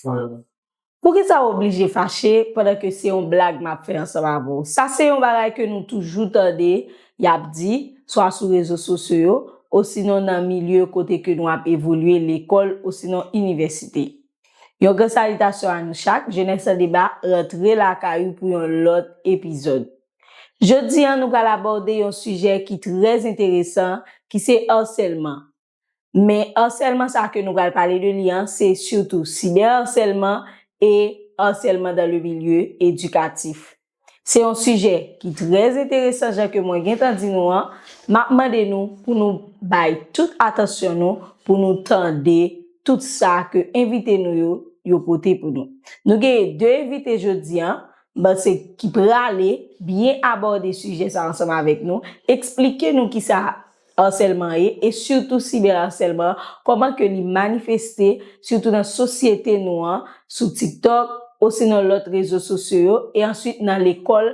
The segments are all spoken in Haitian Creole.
Fran. Poukisa w oblije fache pandan ke se yon blag m ap fè ansanm avè w? Sa se yon bagay ke nou toujou tande y ap di, swa sou rezo sosyo yo, osinon nan milye kote ke nou ap evolye, lekòl osinon inivèsite. Yon gran salitasyon a nou chak, Jenès an Deba rantre lakay ou pou yon lòt epizòd. Jodi an nou pral abòde yon sijè ki trè enteresan ki se Harsèlman, Men arsèlman sa ke nou pral pale de li an se sitou sibèrarsèlman e arsèlman dan le milye edikatif. Se yon sijè ki trè enteresan jan ke mwen gentan di nou an, m ap mande nou pou nou bay tout atansyon nou pou nou tande tout sa ke envite nou yo yo pote pou nou. Nou genyen 2 envite jodi an, m panse ki prale byen abòde sijè sa ansanm avèk nou, eksplike nou kisa Arsèlman ye, e sitou sibè arsèlman an, kòman ke li manifeste, sitou nan sosyete nou an, sou TikTok, osinon lòt rezo sosyo yo, e answit nan lekòl,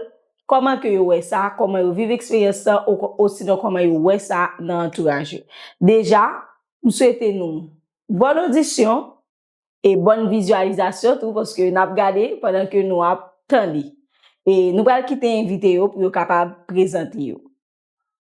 kòman ke yo wè sa, kòman yo viv eksperyans sa, osinon kòman yo wè sa nan antouraj yo. Deja, m swete nou bòn odisyon, e bòn vizyalizasyon tou, paske n ap gade pandan ke nou ap tande. E nou pral kite envite yo pou yo kapab prezante yo.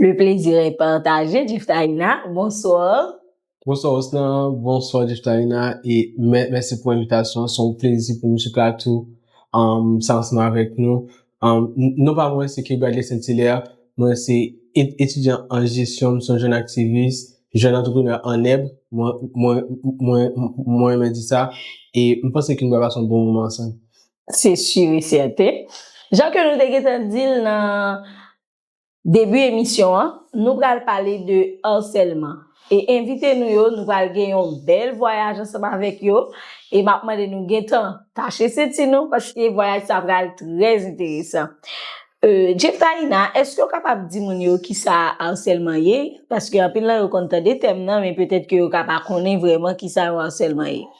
Le plaisir est partagé Jiftaïna, bonsoir. Bonsoir Osnan, bonsoir Jiftaïna e mèsi pou envitasyon an, son plezi pou m sou plato sa ansanm avèk nou. Non pa mwen se K. Bradley Saint Hilaire, mwen se etidyan an jesyon, m son jèn aktivis, jèn antreprenè an nèb, mwen renmen di sa e m panse ke nou pral pase yon bon moman ansanm. Se sur et certain. Jan ke nou te gentan di l nan Debi emisyon an, nou pral pale de Harcèlement e envite nou yo nou pral gen yon bèl vwayaj ansanm avèk yo e map mande nou gentan tache senti nou paske vwayaj sa pral trè enteresan. Jeftaïna, eske ou kapab di moun yo kisa Harcèlement ye? Paske anpil nan yo konn tande tèm nan men petèt ke yo ka pa konnen vrèman kisa yon Harcèlement ye.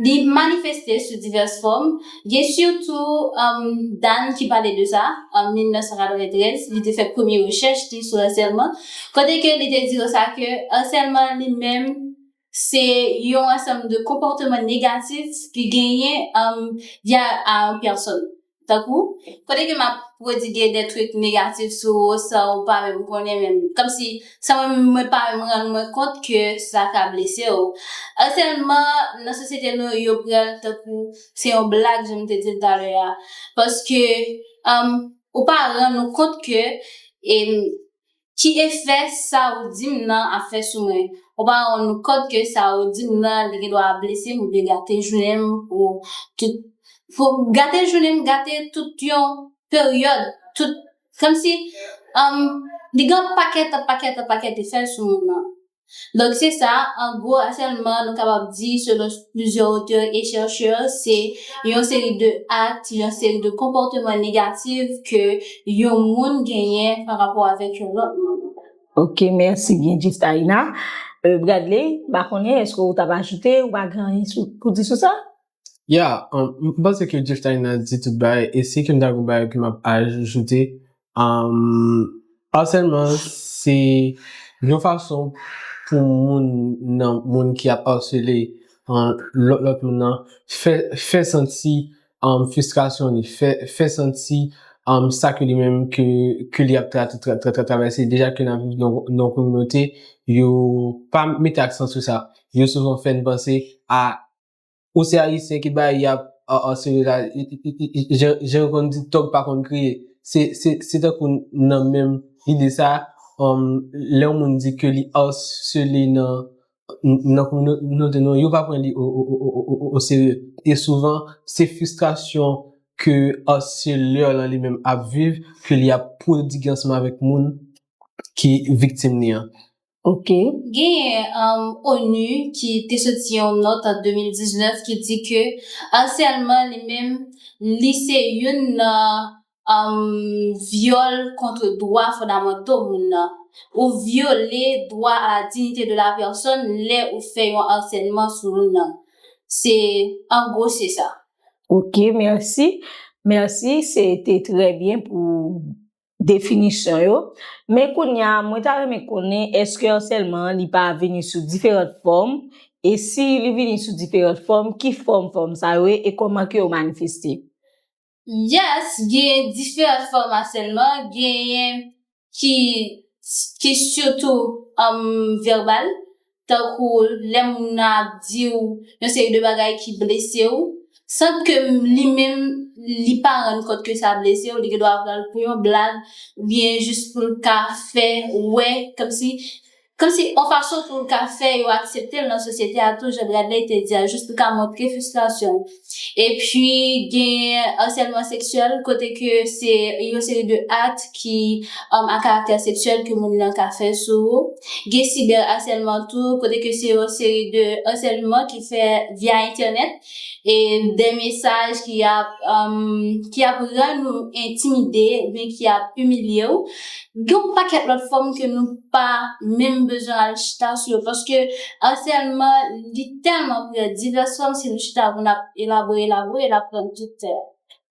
Li manifeste sou divès fòm, gen sitou Dan ki pale de sa an 1993, li te fè premye rechèch li sou asèlman, kote ke li te di yo sa ke asèlman li menm se yon ansanm de konpòteman negatif ki genyen via a yon pèsòn. Tankou, kote ke m ap pwodigue des trucs négatifs sou ou san ou pa menm konnen menm, kòmsi, san mwen menm mwen pa menm rann mwen kont ke sa ka blese ou. Harcèlement nan sosyete nou yo pran l tankou se yon blag jan m te di l talè a, paske, ou pa rann ou kont ke, Ki efè sa ou di m nan ap fè sou mwen? Ou pa rann ou kont ke sa ou di m nan li gen dwa ap blese m oubyen gate jounen m pou tout pou gate jounen m gate tout yon peryòd tout kòmsi humm li gen yon pakèt pakèt pakèt efè sou moun nan. Donk se sa, an gwo asèlman nou kapab di selon plizyè otè e chèchè se yon seri de akt, yon seri de konpòteman negatif ke yon moun genyen pa rapò avèk yon lòt moun. Ok mèsi byen di Starina. Bradley, m pa konnen eske ou t ap ajoute ou pa gen anyen pou di sou sa? Ya, m panse ke Jeff Tiny nan di tout bagay, e si ke m ta gen yon bagay ke m ap ajoute, Arsèlman se yon fason pou moun nan, moun ki ap arsele lòt moun nan fè santi fristrasyon li, fè santi sa ke li menm ke li ap travèse, deja ke nan viv nan yon kominote, yo pa mete aksan sou sa, yo souvan fè n panse a Ou se ayisyen ki bay yap an sere la jan yo konn di tòg pa konn kriye se tankou nan menm ide sa lè yon moun di ke li arsele nan kominote nou yo pa pran li o serye e souvan se fristrasyon ke arselè lan li menm ap viv ke li ap prodigi ansanm avèk moun ki viktim ni an. Ok. Genyen onu ki te soti yon nòt an 2019 ki di ke arsèlman li menm li se youn nan vyòl kontre dwa fondamanto moun nan. Ou vyole dwa a la dinite de la pèsòn lè ou fè yon arsèlman sou moun nan. Se an gwo se sa. Ok mèsi. Mèsi se te trè byen pou definisyon yo, men kounya mwen ta renmen konnen eske harcèlement an li pa vini sou diferant fòm, e si li vini sou diferant fòm ki fòm fòm sa yo ye e kòman ke yo manifeste? Yes gen diferant fòm harcèlement, genyen ki ki surtout verbal, tankou lè moun nan ap di w yon seri de bagay ki blese w, san ke li menm li pa rann kont ke sa blese w, li gen dwa pran l pou yon blag, oubyen jis pou l ka fè wè, kòmsi, kòmsi yon fason pou l ka fè yo aksepte l nan sosyete a tou, jan Bradley te di a, jis pou l ka montre fristrasyon l. Epi gen Harcèlement sexuel kote ke se yon seri de akt ki a karaktè seksyèl ke moun nan ka fè sou ou. Gen Cyber harcèlement tou kote ke se yon seri de harcèlement ki fè via entènèt e de mesaj ki ap ki ap rann ou entimide ou byen ki ap imilye ou. Gen yon pakèt lòt fòm ke nou pa menm bezwen al chita sou yo paske harcèlement li. Telman prè divès fòm si nou chita pou nap elabore elabore nap pran tout tè a.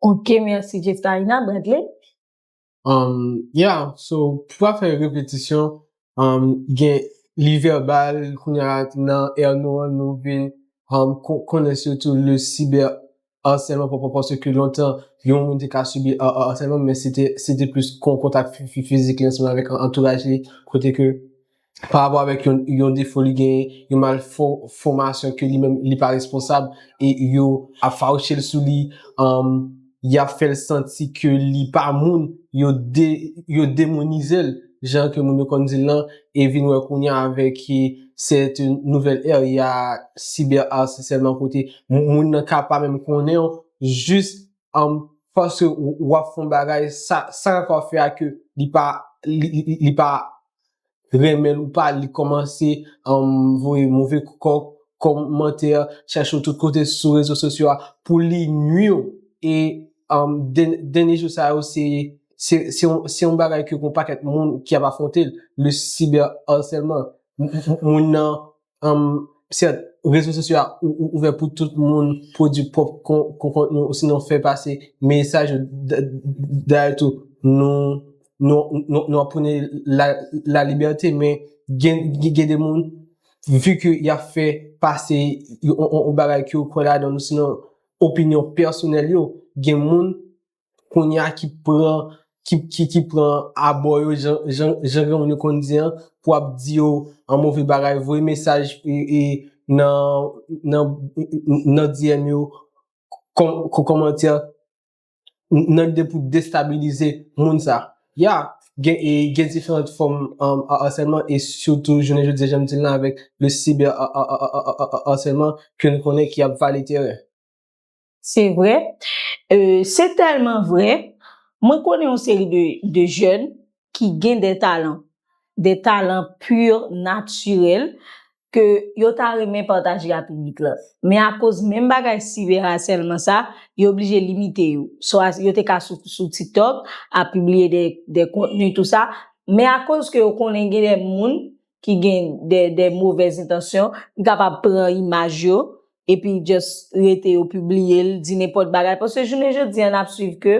Ok merci Jeftaïna Bradley. Umm ya so pou pa fè repetisyon umm gen li vèbal kounya nan èr nou an nou vin umm konnen sitou le cyber Asèlman pou pou se ke lontan yon moun te ka sibi asèlman men se te se te plis kon kontak fizik li ansanm avèk antouraj li kote ke pa rapò avèk yon yon defo li genyen yon mal fò fòmasyon ke li menm li pa responsab e yo ap fawouche l sou li anm y ap fè l santi ke li pa moun yo de yo demounize l jan ke moun yo konn di l lan, e vin wè kounya avèk ki sèt nouvèl ère ya sibè arse sèlman kote moun nan ka pa menm konnen w jis an paske w ap fon bagay sa sa ka fè a ke li pa li pa renmen l ou pa li kòmanse an voye move kòk kòmantè chache w tout kote sou rezo sosyo a pou li nwi w e an dènye jou sa yo se se yon bagay ke yon pakèt moun ki ap afwonte l, le cyber harcèlement, moun nan, sèt, rezo sosyo a ouvè pou tout moun pwodui pwòp kontni ou sinon fè pase mesaj yo, dayè tou, nou ap pwone la libète men gen de moun, vi ke y ap fè pase yon bagay ke yo kwè ladan l ou sinon opinyon pèsonèl yo, gen moun kounye a ki pran, ki pran abò yo jan gen moun yo konn di an, pou ap di yo an move bagay, voye mesaj e nan DM yo, kon komantè, nan lide pou destabilize moun sa. Ya, gen diferant fòm asèlman, e sitou jounen jodi jan m di la avèk le cyber asèlman, ke nou konnen ki ap vale teren. Se vre, se tèlman vre, mwen konnen yon seri de jèn ki gen de talan, de talan pur, natirèl, ke yo ta renmen pataje a piblik la. Men akoz menm bagay siberasèlman sa, yo blije limite yo. Swa yo te ka sou TikTok, ap pibliye de kontni tou sa, men akoz ke yo konnen gen de moun ki gen de de movèz entansyon ki kapab pran imaj yo epi just rete yo pibliye l di nenpòt bagay paske jounen jodi an ap swiv ke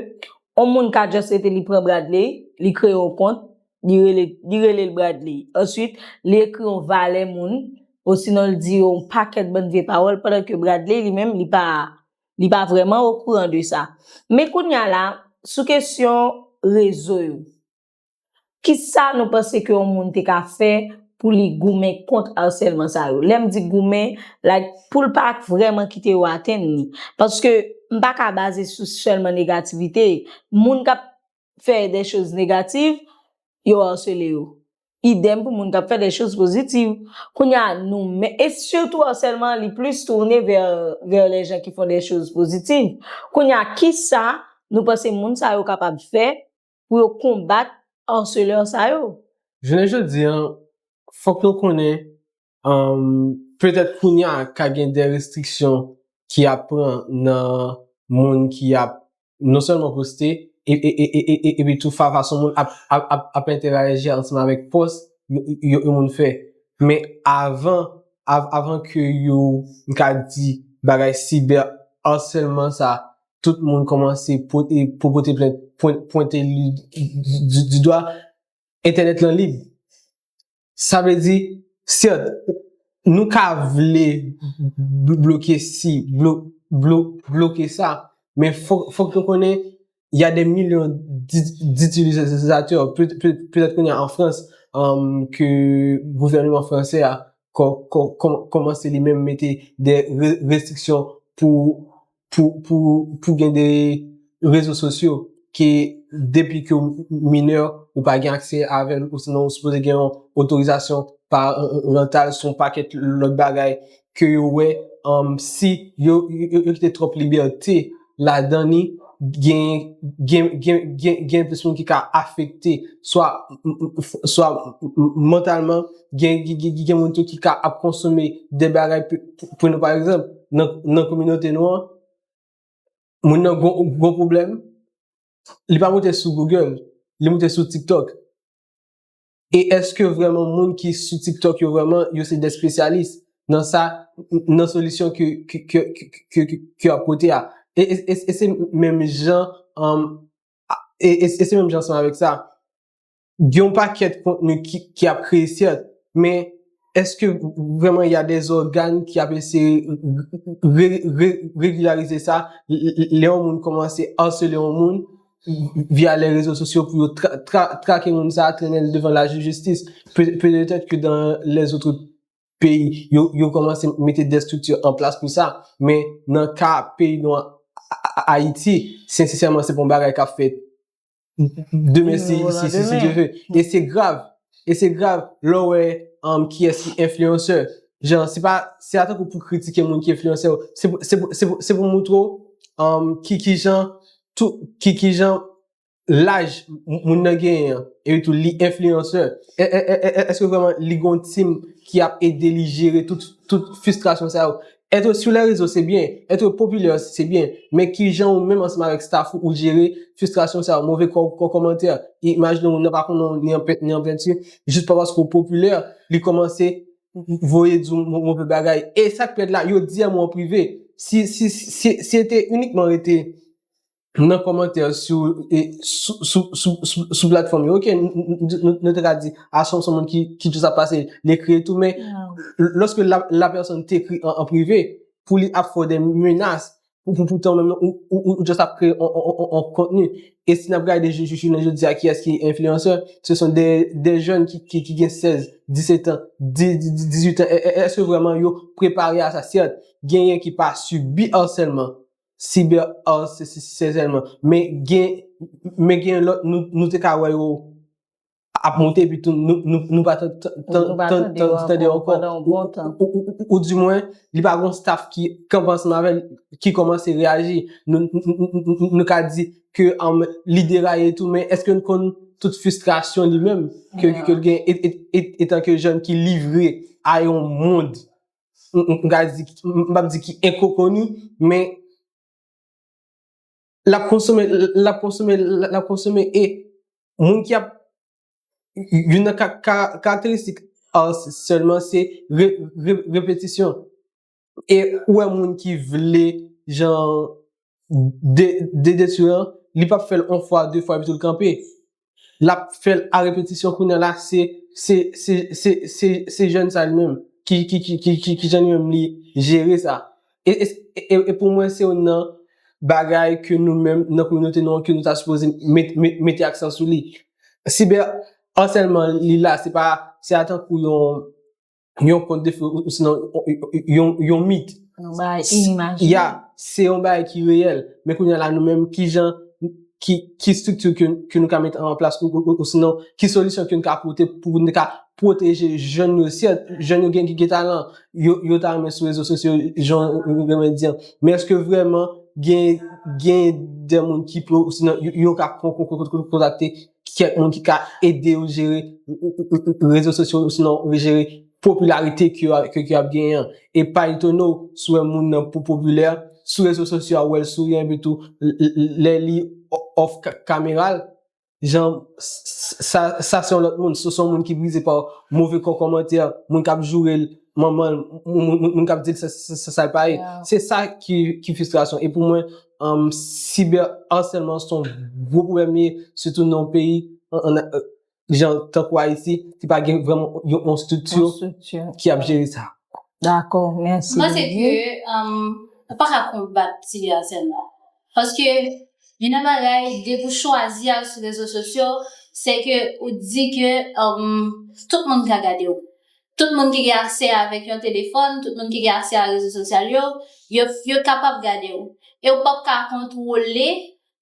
on moun ka just rete li pran Bradley li kreye on kont li rele li rele l Bradley answit li ekri on valè moun osinon l di on pakèt bann vye pawòl pandan ke Bradley li menm li pa li pa vrèman okouran de sa men kounya la sou kesyon rezo yo. Ki sa nou panse ke yon moun te ka fè pou li goumen kont arsèlman sa yo? Lè m di goumen, like, pou l pa vrèman kite yo atenn li. Paske, m pa ka baze sou sèlman negativite. Moun k ap fè de choz negativ, yo arsele yo. Idèm pou moun k ap fè de choz pozitiv. Kounye a, nou men, e sitou arsèlman an li plis tourne vè, vè lè jan ki fon de choz pozitiv. Kounye a, ki sa nou panse moun sa yo kapab fè pou yo konbat harceleur sa yo. Jounen jodi an, fòk nou konnen, petèt kounye a ka gen de restriksyon ki ap pran nan moun ki ap non sèlman poste, epi tou fason moun ap entèraji ansanm avèk pòs yon moun fè. Men avan, avan ke yo, m ka di, bagay cyber harcèlement sa tout moun kòmanse pou pote plent, pwente li di dwa, entènèt lan lib. Sa vle di, sèt, nou ka vle bloke si, bloke sa, men fòk nou konnen, y a de milyon ditilizatè, petèt kounye a an Frans, ke gouvènman franse a kòmanse li menm mete de restriksyon pou pou gen de rezo sosyo ke depi ke ou minè ou pa gen aksè avèl ou sinon ou sipoze gen yon otorizasyon parantal sou yon pakèt lòt bagay ke yo wè si yo kite twòp libète ladan li gen plis moun ki ka afekte swa mantalman gen moun tou ki ka ap konsome de bagay pou nou pa egzanp nan kominote nou an moun nan gon pwoblèm li pa moute sou Google li moute sou TikTok e eske vreman moun ki sou TikTok yo vreman yo se de spesyalis nan sa nan solisyon ke yo ap pote a e se menm jan e se menm jan san avèk sa gen yon pakèt kontni ki ap kreye sèt, men eske vrèman ya des organes ki ap eseye regularize sa, lè yon moun kòmanse harceler yon moun via les réseaux sociaux pou yo trake moun sa, trennen l devan la jistis, petèt ke dans les autres pays yo kòmanse mete des structures en place pou sa, men nan ka peyi nou an Ayiti, sensesèman se pa yon bagay k ap fèt Demen si Dieu veut. E se grav. E se grav lè w wè kiyès ki enfliyansè. Jan se pa, se pa tankou pou w kritike moun ki enfliyansè yo. Se pou moutre w ki jan tout, ki jan laj moun nan genyen an. E tou li enfliyansè. Eske vreman li gon team ki ap ede li jere tout fistrasyon sa yo. Etre sou lè rezo se byen, etre popilè osi se byen, men kijan ou menm ansanm avèk staf ou ou jere fistrasyon sa yo, move kò kò kòmantè, imajine ou nan pa konnen w ni an pent ni an penti, jis pa paske ou popilè, li kòmanse voye di w move bagay, e sak pi rèd la yo di a mwen an prive, si si si si e te inikman rete. nan kòmantè sou sou platfòm yo ok nou te ka di a son moun ki ki toujou ap pase li ekri etou men lòske la pèsòn te ekri an prive pou li ap fè w de menas pou pou poutan menm nou ou jòs ap kreye yon kontni e si n ap gade jou jounen jodi a kiyès ki enfliyansè se son de jèn ki gen 16 17 an 18 an eske vreman yo prepare a sa sèt genyen ki pa sibi ansèlman Cyber art se sesi se sèlman. Men gen men gen lòt nou te ka wè yo ap monte epi tou nou pa tande yo ankò. Ou di mwen li pa gon staff ki kanpe ansanm avè l ki kòmanse reyaji. Nou ka di ke li deraye tou men èske l konn tout fistrasyon li menm ke l gen etanke jèn ki livre a yon mond m ka di, m pap di ki enkokoni, men l ap konsome, l ap konsome, l ap konsome e moun ki ap, youn nan karakteristik art sèlman se repetisyon. E ou wè moun ki vle jan DD sou an, li pap fè l on fwa, de fwa epi tou l kanpe. L ap fè l a repetisyon kounye a la se, se, se, se, se, se jèn sa li menm ki, ki, ki, ki, ki, ki jan li menm li jere sa. E, e, e, e pou mwen se youn nan bagay ke nou menm nan kominote nou an ke nou ta sipoze met, met, mete aksan sou li. Siber asèlman li la se pa, se a tankou yon, yon kont de fè, osinon yon mit. Yon bay inimajinè. Ya, se yon bay ki reyèl. Men kounye la nou menm, ki jan, ki strikti ke nou ka mette an plas, osinon, ki solisyon ke nou ka pote pou nou ka pwoteje jèn yo, sèt, jèn yo gen ki gen talan, yo ta renmen sou rezo sosyo, jan nou renmen di an. Men eske vreman gen, gen de moun ki pou, osinon, yo ka kontakte. kèk moun ki ka ede yo jere rezo sosyo yo osinon jere popilarite ke yo ap genyen an. E pa etone w si w wè moun nan pou popilè, sou rezo sosyo a ou wè l souri epitou lè li off kamera l, jan sa se yon lòt moun, se yon moun ki brize pa move kòmantè, moun k ap joure l manman l, moun k ap di l sa l pa ye. Se sa ki fistrasyon. Cyber harcèlement se yon gwo pwoblèm li ye sitou nan yon peyi jan tankou Ayiti ki pa gen vrèman yon estrikti ki ap jere sa. Dakò, mèsi. Mwen panse ke ou pa ka konbat cyber harcèlement paske youn nan bagay depi ou chwazi al sou rezo sosyo se ke ou di ke tout moun ka gade ou. Tout moun ki gen aksè avèk yon telefòn, tout moun ki gen aksè a rezo sosyal yo, yo kapab gade w. E w p ap ka kontwole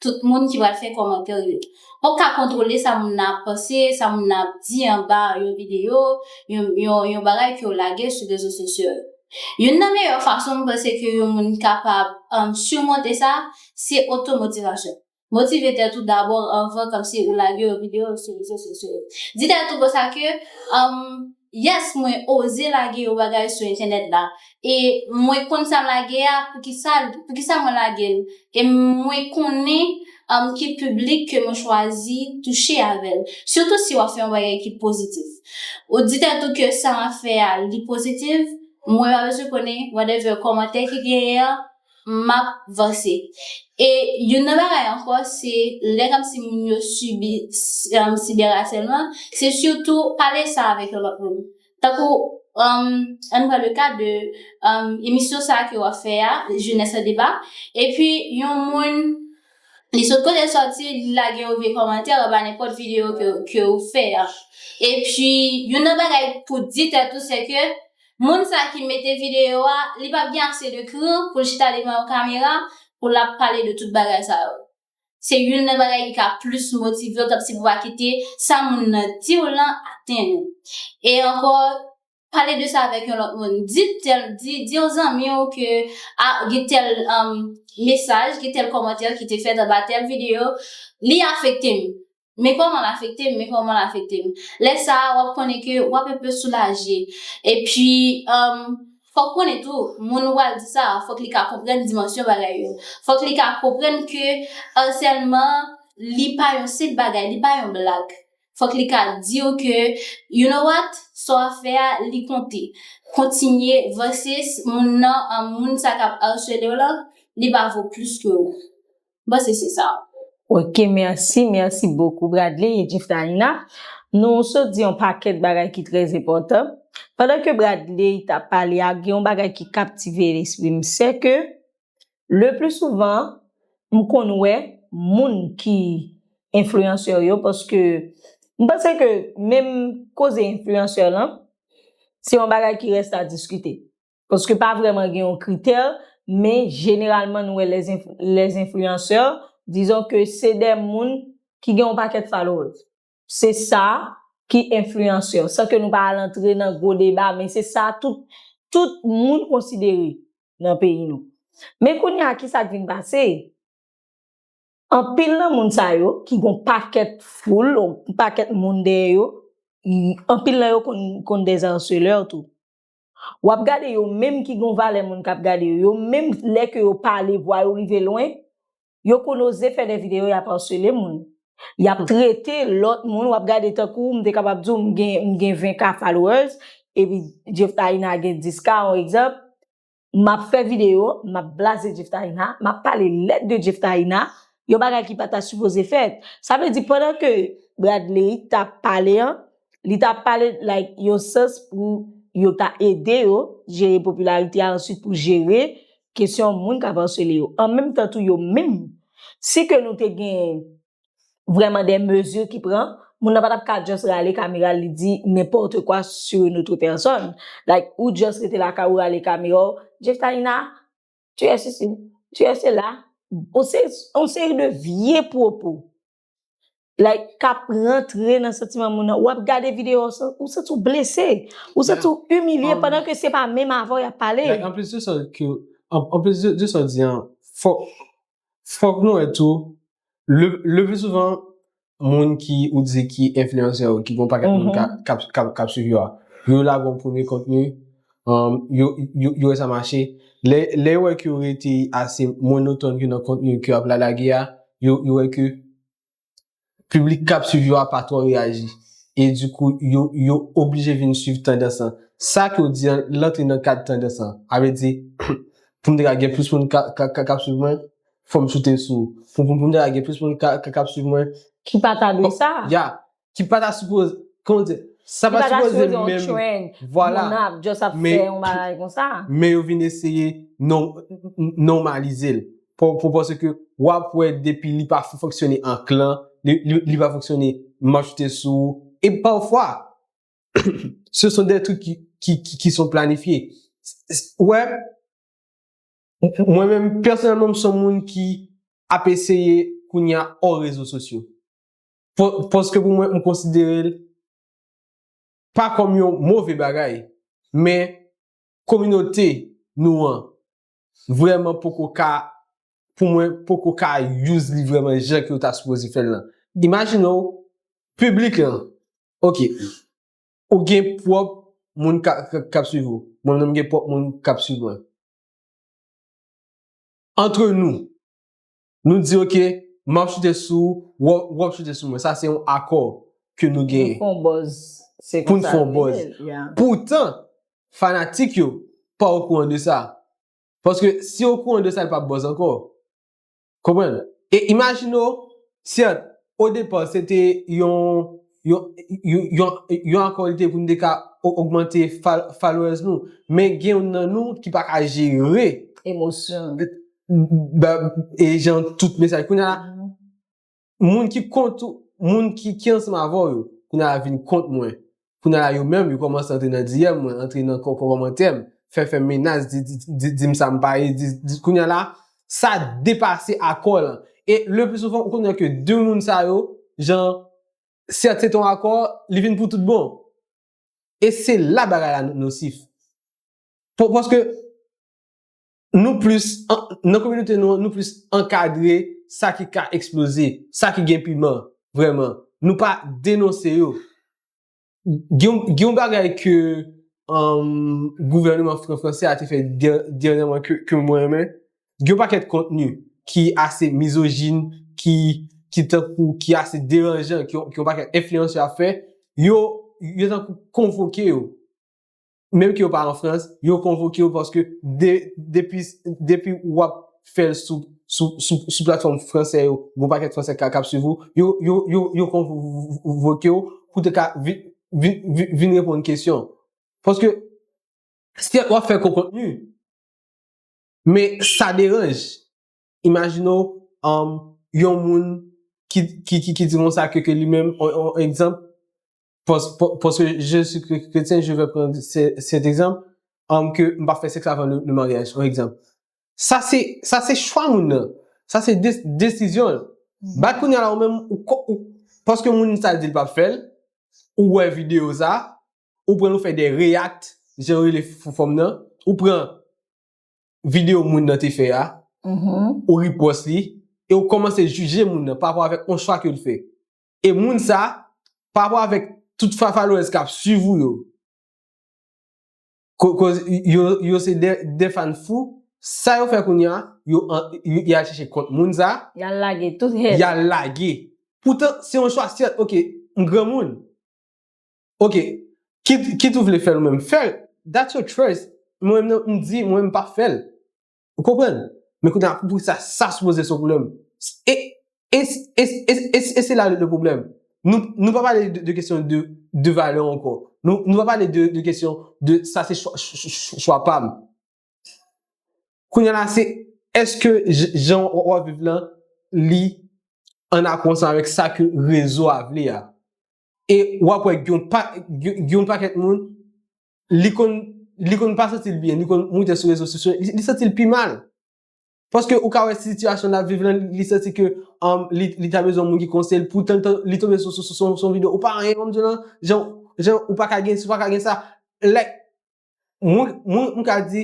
tout moun ki pral fè kòmantè yo. W p ap ka kontwole sa moun nan ap panse, sa moun nan ap di anba yon videyo, yon bagay ke w lage sou rezo sosyo yo. Youn nan meyè fason m panse ke yon moun kapab simonte sa, se otomotivasyon. Motive tèt ou dabò anvan kòmsi ou lage yon video sou rezo sosyo yo. Di tèt ou konsa ke, Humm, yes mwen oze lage yon bagay sou entènèt la e mwen konn sa m lage a poukisa poukisa mwen lage l e mwen konnen humm ki piblik ke mwen chwazi touche avè l. Sitou si w ap fè yon bagay ki pozitif. Ou di tèt ou ke sa m ap fè a li pozitif, mwen pa bezwen konnen whatever kòmantè ki genyen an, m ap vanse. E youn nan bagay ankò se lè n ap di moun yo sibi sibèrasèlman, se sitou pale sa avèk yon lòt moun. Tankou an n pran le ka de emisyon sa a ke w ap fè a, Jeunesse en débat, epi yon moun li sot kote l sòti li lage yon vye kòmantè anba nenpòt videyo ke ou fè a. Epi youn nan bagay pou di tèt ou se ke. Moun sa ki mete video a li pap gen ase de kran poul chita devan yon kamera pou lap pale de tout bagay sa yo se youn nan bagay ki ka plis motivew tant si pou pa kite sa moun nan diw lan atenn ou e ankò pale de sa avèk yon lòt moun di tèl di di yon zanmiw ke a gen tèl mesaj gen tèl kòmantè ki te fèt anba tèl video li afektem Men kòman l afekte m, men kòman l afekte m. Lè sa a, w ap konnen ke w ap enpe soulaje. Epi, fò w konnen tou, moun ou pral di sa a, fòk li ka konprann dimansyon bagay yo. Fòk li ka konprann ke arsèlman, li pa yon senp bagay, li pa yon blag. Fòk li ka di w ke, you know what, sa w ap fè a, li konte. Kontinye, versus moun nan, moun sa k ap arsele w lan, li pa vo plis ke ou. m panse se sa. Ok merci merci beaucoup Bradley et Jiftaïna nou sot di yon pakèt bagay ki trè enpòtan pandan ke Bradley tap pale a gen yon bagay ki kaptive lespri m sè ke le pli souvan m konn wè moun ki enfliyansè yo paske m panse ke menm koze enfliyansè lan se yon bagay ki rèst a diskite Paske pa vreman gen yon kritè, men jeneralman nou wè lè enfliyansè, dizon ke se de moun ki gen yon pakèt followers. Se sa ki enfliyansè. San ke nou pa al antre nan gwo deba, men se sa tout tout moun konsidere nan peyi nou. Men kounye a ki sa k vin pase, anpil nan moun sa yo ki gen yon pakèt foul, yon pakèt moun dèyè yo, anpil nan yo konn des harceleurs tou. Wap gade yo menm ki gon valè moun kap gade yo, yo menm lè ke yo pale vwa yo rive lwen, yo konn oze fè dè video yap arsele moun, yap trete lòt moun, wap gade tankou m te kapab diw m gen m gen 20 k followers epi Jeftaïna gen 10 k on egzanp, map fè video map blaze Jeftaïna, map pale lèd de Jeftaïna, yon bagay ki pata sipoze fèt. Sa vle di pandan ke Bradley tap pale an, Li ta pale like yon sans pou yo ta ede yo jere popilarite a answit pou jere kesyon moun kap arsele yo. An menm tan tou yo menm si ke nou te gen vrèman de mezi ki pran moun nan pa tap ka just rale kamera li di nenpòte kwa sur une autre personne. Like ou just rete lakay ou rale kamera w Jeftaïna tu es ceci tu es cela on seri de vye pwopo. Like kap rantre nan santiman moun nan. Wap gade video sa, ou santi ou blese. Ou santi ou imilye pandan ke se pa menm avè w yap pale. Like anplis de sa ke, anplis de sa w di an, fòk, fòk nou wè tou, le, le pli souvan, moun ki ou di ki enfliyansè yo, ki gon pakèt moun kap, kap, kap swiv yo a, yo lage yon premye kontni, yo wè sa mache, lè yo wè ke yo rete ase monotòn ke nan kontni ke yo ap la lage a, yo wè ke piblik k ap swiv yo a pa twò reyaji, e di kou yo oblije vin swiv tandans lan. Sa ke w di an, l antre nan kad tandans lan. A vle di, pou m te ka gen plis moun k ap swiv mwen, fò m soute sou. Pou m te ka gen plis moun k ap swiv mwen. Ki pa ta dwe sa. Ya. Ki pa ta sipoze, kòman w di? Sa pa ta sipoze yon trend, moun ap just ap fè yon bagay kon sa. Men yo vin eseye normalize l. Pou pòsè ke w ap wè depi li pa fonksyone an klan, li pa fonksyone m ap choute sou ou. E pafwa, se son de truk ki son planifye. Ou wè, mwen menm, pèsonèlman m son moun ki ap eseye kounye a òr rezo sosyo. Paske pou mwen, m konsidere l pa kòm yon move bagay, men kominote nou an vrèman poko ka, pou mwen, poko ka use li vrèman jan ke yo ta sipoze fè l lan. Imajine w, piblik lan, ok, ou gen pwòp moun k ap swiv ou, mwen menm m gen pwòp moun k ap swiv mwen. Antre nou, Nou di ok, m ap chite sou ou, ou ap chite sou mwen. Sa se yon akò ke nou genyen. Pou n fè yon buzz. Se konsa yo rele l. Pou n fè yon buzz. Poutan, fanatik yo pa okouran de sa. Paske si yo okouran de sa, l p ap buzz ankò. Konprann? E imajine w, sèt, odepa se te yon, yon, yon, yon akò li te pou n te ka ogmante followers nou. Men gen youn nan nou ki pa ka jere. Emosyon l. e jan tout mesaj kounye la moun ki kont ou moun ki ansem avè w yo kounye la vin kont mwen kounye la yo menm yo kòmanse antre nan diyèm mwen antre nan kòmantè m fè fè menas di m sa m pa ye di kounye la sa depase akò lan e le pli souvan ou konnen ke de moun sa yo jan sèt se ton akò li vin pou tout bon e se la bagay la nosif pou paske nou plis, nan kominote nou an, nou plis ankadre sa ki ka eksploze, sa ki gen piman vrèman. Nou pa denonse yo. Gen yon bagay ke gouvèneman franse a te fè dènyèman ke mwen renmen. Gen yon pakèt kontni ki ase mizojin, ki tankou, ki ase deranjan, ke yon pakèt enfliyansè ap fè, yo tankou konvoke yo. menm ke yo pa an Frans, yo konvoke yo paske depi ou ap fè l sou platfòm fransè yo, gwo pakèt fransè k ap swiv ou, yo konvoke yo pou te ka vin reponn kesyon. Paske, sèt w ap fè gwo kontni, men sa deranj. Imajine w, yon moun ki di konsa ke li menm, yon egzanp, Paske je si kretyen, je vè pran sèt egzanp, anm ke m pa fè sèks avan le maryaj, yon egzanp. Sa se, sa se chwa moun nan. Sa se desizyon l. Bat kounya la ou menm ou ko, ou, paske moun sa di l pa p fè l, ou wè videyo sa, ou pran ou fè de reyakt, jan yo rele fòm nan, ou pran videyo moun nan te fè a, ou ripwòs li, e ou kòmanse jije moun nan pa rapò avèk yon chwa ke l fè. E moun sa, pa rapò avèk tout fafalwèz kap swiv ou yo, koz yo se de fan fou, sa yo fè kounya, yal chèche kont moun sa, yal lage tout hèn, yal lage, poutan se yon chwa sèt, ok, m granmoun, ok, kit ou vle fèl ou menm fèl, that's your choice, mwen menm m di, mwen menm m pap fèl, Ou konprann? Men kounye a, pou sa, sa sipoze se yon pwoblèm. E, e, e, e, e, e se la le pwoblèm. Nou, nou pa pale de kesyon de, de valè ankò. Nou, nou pa pale de kesyon de sa se chwa, chwa pa m. Kounye la se, èske jan w ap viv lan, li ann akò ansanm avèk sa ke rezo a vle a? E w ap wè gen yon pa, gen yon pakèt moun li konn, li konn pa santi l byen, li konn moute sou rezo sosyo, li santi l pi mal. Paske ou ka wè sitiyasyon l ap viv lan, li santi ke li ta bezwen moun ki konseye l, poutan li tonbe sou yon videyo, ou pa anyen menm jan an, jan jan ou pa ka gen si, ou pa ka gen sa. Lè, mwen, mwen m ka di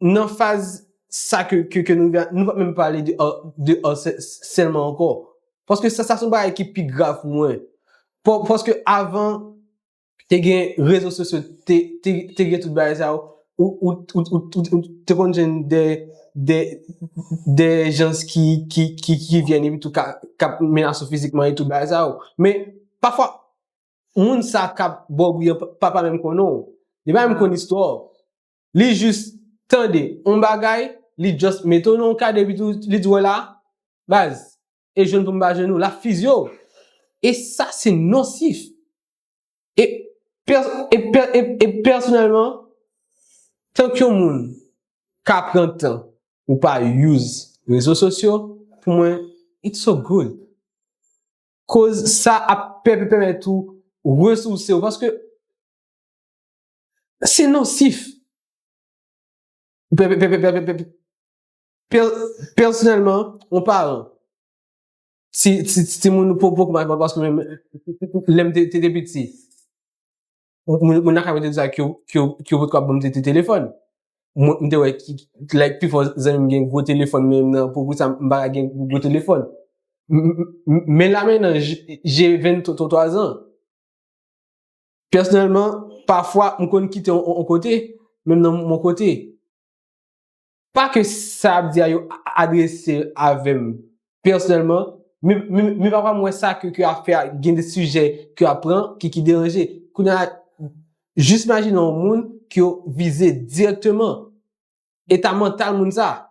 nan faz sa ke nou viv la, nou pa menm pale de de asèlman ankò. Paske sa se yon bagay ki pi grav pou mwen. Paske avan, te gen rezo sosyo, te gen tout bagay sa yo, ou te konn jwenn de jans ki vyen epi tou kap menase w fizikman e tout bagay sa yo. Men, pafwa, moun sa kap ba w bri an pa pa menm konnen w. Li pa menm konn istwa w. Li jis tande yon bagay, li just mete w nan yon kad epi tou li di w la, baz, e jwenn pou m pa jwenn ou, l ap fizye w. E sa se nonsif. E pèsonèlman, tank yon moun ka pran tan pou pa use rezo sosyo, pou mwen, it's so good. Koz sa ap pèmèt ou resouse w. Paske, se nonsif. Pèsonèlman, yon paran, si timoun ou poko mache, pa paske menm lè m te te piti, moun nan ka mwen te di sa ki yo potko ap ban m te te telefòn. M te wè ki, like pifò zanmi m gen gwo telefòn men menm nan poukisa m pa ka gen gwo telefòn. Men la menm nan, je 23 zan. Pèsonèlman, pafwa m konn kite yon kote, menm nan yon kote. Pa ke sa yap di a yo adrese avèm pèsonèlman, men pafwa m wè sa ke yo ap fè a, gen de sijè ke yo ap pran ki deranje. Kounye a, jis imajine yon moun ke yo vize dirèkteman, eta mantal moun sa.